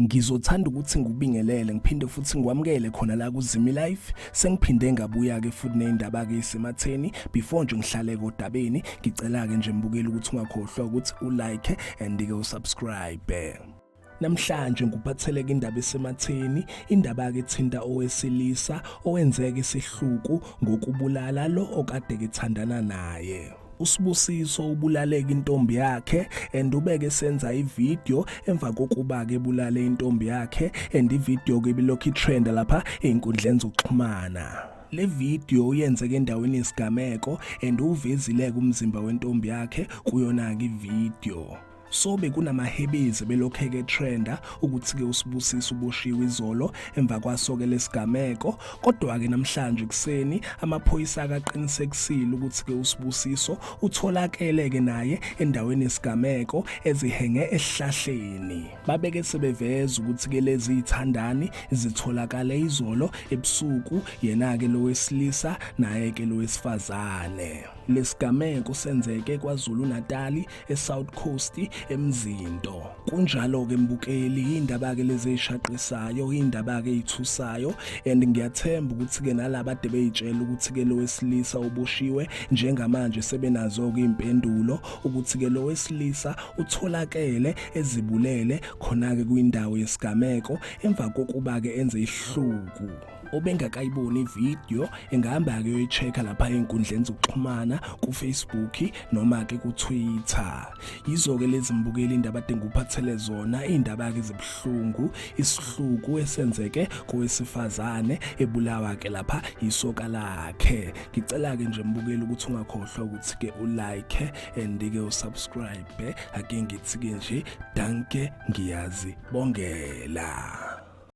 ngizothanda ukuthi ngikubingelele ngiphinde futhi ngikwamukele khona la kuzimi life sengiphinde ngabuya ke futhi nezindaba ke isematheni before nje ngihlale kodabeni ngicela ke nje mbukeli ukuthi ungakhohlwa ukuthi u like and ke usubscribe Namhlanje ngikuphatheleka indaba esematheni, indaba-ke ethinta owesilisa owenzeka isihluku ngokubulala lo okade kethandana naye. usibusiso ubulaleka intombi yakhe and ubeke senza ivideo emva kokuba ke bulale intombi yakhe and ivideo ke bilokhu itrend lapha einkundleni zokuxhumana le video uyenzeke endaweni yesigameko and uvezile umzimba wentombi yakhe kuyona ke ivideo so bekunamahebezi belokheke trenda ukuthi ke usibusisa uboshiwe izolo emva kwasoke lesigameko kodwa ke namhlanje kuseni amaphoyisa akaqinisekisile ukuthi ke usibusiso utholakele ke naye endaweni yesigameko ezihenge esihlahleni babeke sebeveza ukuthi ke lezi ithandani zitholakale izolo ebusuku yena ke lowesilisa naye ke lowesifazane lesigameko senzeke kwaZulu Natali eSouth Coast emzinto kunjalo ke mbukeli indaba ke lezi eshaqisayo indaba ke ithusayo and ngiyathemba ukuthi ke nalabo ade beyitshela ukuthi ke lowesilisa uboshiwe njengamanje sebenazo ke impendulo ukuthi ke lowesilisa utholakele ezibulele khona ke kwindawo yesigameko emva kokuba ke enze ihluku obengakayiboni ivideo engahamba kuyoyi-check-a lapha ey'nkundleni zokuxhumana kufacebook noma-ke kutwitter yizo-ke lezi mbukeli indaba adinga uphathele zona iy'ndaba-ke zibuhlungu isihluku esenzeke kowesifazane ebulawa-ke lapha yisoka lakhe ngicela-ke nje mbukeli ukuthi ungakhohlwa ukuthi-ke ulike and-ke usubscribe ake ngithi-ke nje danke ngiyazibongela